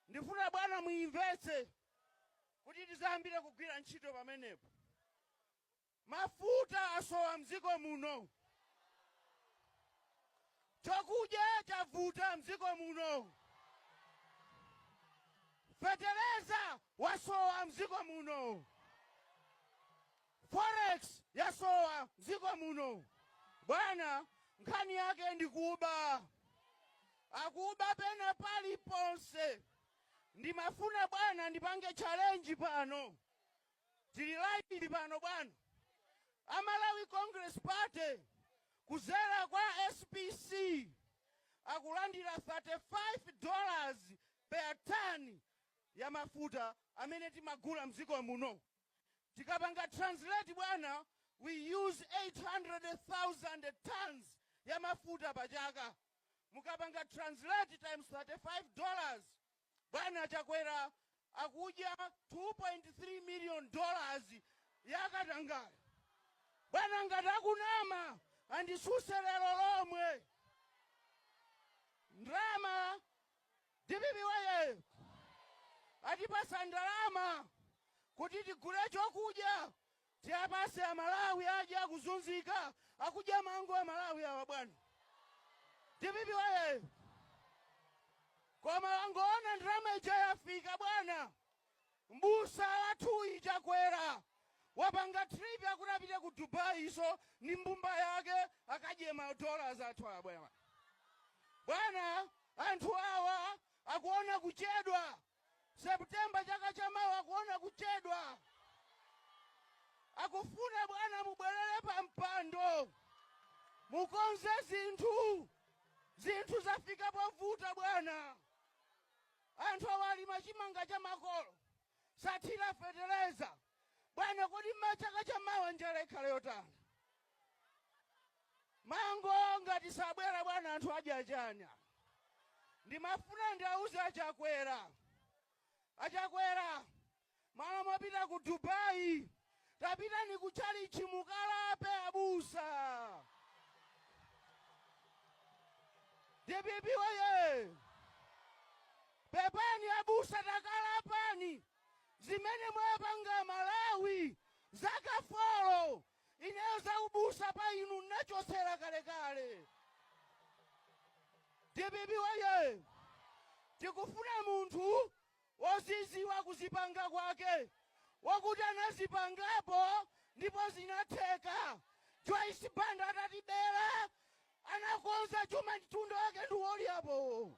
Ndifuna bwana muimvetse kuti tizayambire kugwira ntchito pamenepo. Mafuta asowa mdziko muno. Chakudya chavuta mdziko muno. Fetereza wasowa mdziko muno. Forex yasowa mdziko muno bwana nkhani yake ndikuba akuba pena paliponse ndimafuna bwana ndipange challenge pano tili live pano bwana a Malawi Congress Party kuzera kwa SPC akulandira 35 dollars per ton ya mafuta amene timagula mdziko muno. Tikapanga translate bwana we use 800,000 tonnes ya mafuta pa chaka. Mukapanga translate times 35 dollars bwana Chakwera akudya 2.3 million dollars ya katangale. Bwana ngati ndikunama andisuse lero lomwe. Ndrama Dpp woyee! Atipasa ndalama kuti tigule chokudya tiapase amalawi aja akuzunzika akudya mango amalawi awa bwana dpp woyee koma angoona ndalama ija yafika bwana M'busa wathuyi chakwera wapanga trip akuti apite ku Dubai iwo ndi mbumba yake akadye ma dollars athu bwana. Bwana anthu awa akuona kuchedwa September chaka cha mawa akuona kuchedwa. Akufuna bwana mubwelele pa mpando mukonze zinthu. Zinthu zafika povuta bwana. Anthu awa alima chimanga cha makolo osathira fetereza bwana kodi ma chaka cha mawa njala ikhala yotani? Mango ngati sabwera bwana anthu adya chani apa? Ndimafuna ndiauze a Chakwera, a Chakwera Malo mopita ku Dubai tapitani ku chalichi mukalape abusa. Dpp woyee. Pepani abusa takalapani zimene mwawapanga aMalawi zaka folo ineyo za ubusa pa inu nnachotsera kalekale. Dpp woyee. Tikufuna munthu woziziwa kuzipanga kwake wokuti anazipangapo ndipo zinatheka Joyce Banda atatibela anakonza chuma mtundu wake ndi wolyapo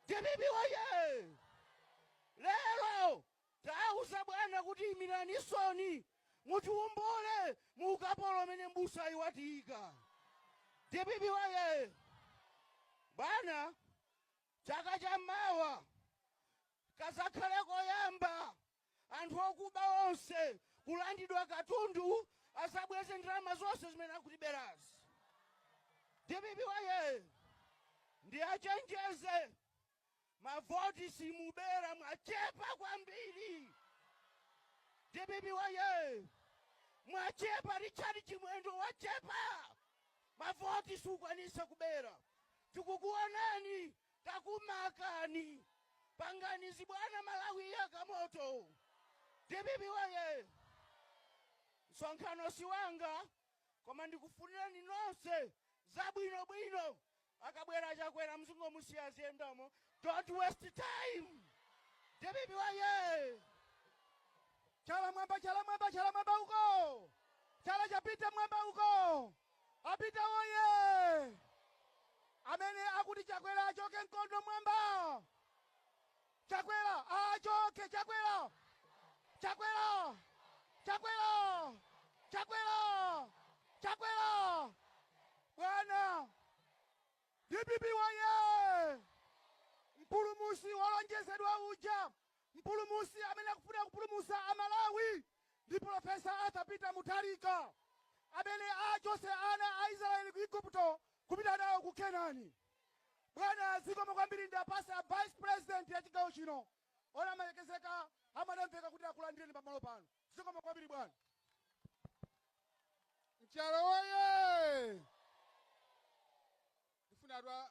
dpp woye lero tauzani bwana kuti imiranisoni mutiombole mu ukapolo umene mbusayi watiika dpp woye bwana Chaka cha mawa kazakhale koyamba anthu okuba onse kulandidwa katundu azabweze ndalama zonse zimene akutiberazi. Dpp wayee! Ndiachenjeze mavoti simubera mwachepa kwambiri. Dpp wayee! Mwachepa Richard Chimwendo wachepa mavoti sukwanisa kubera. Tikukuonani takumarkani pangani zibwana Malawi iyaka moto dpp woye! Msonkhano siwanga koma ndikufunireni nonse zabwino bwino akabwera Chakwera muzingomusiya aziyendamo don't waste time dpp woye! Chala mwamba chala mwamba chala mwamba uko chala chapita mwamba uko. A peter woyee! Amene akuti chakwera achoke mkono mwamba! Chakwera aachoke chakwera! Chakwera! Chakwera! Chakwera! Chakwera! Bwana! Dpp woyee! Mpulumusi wolonjezedwa uja! Mpulumusi amene akufuna kupulumusa a Malawi ndi Prof. Arthur Peter Mutharika amene achose ana a Israel ku Igupto kupita nawo ku Kenani. Bwana zikomo kwambiri ndiapase a Vice President ya chigawo chino olamalekezeka a Madam Veka kuti akulandireni pamalo pano. Zikomo kwambiri bwana. Nchalo woyee! Ndifuna atwa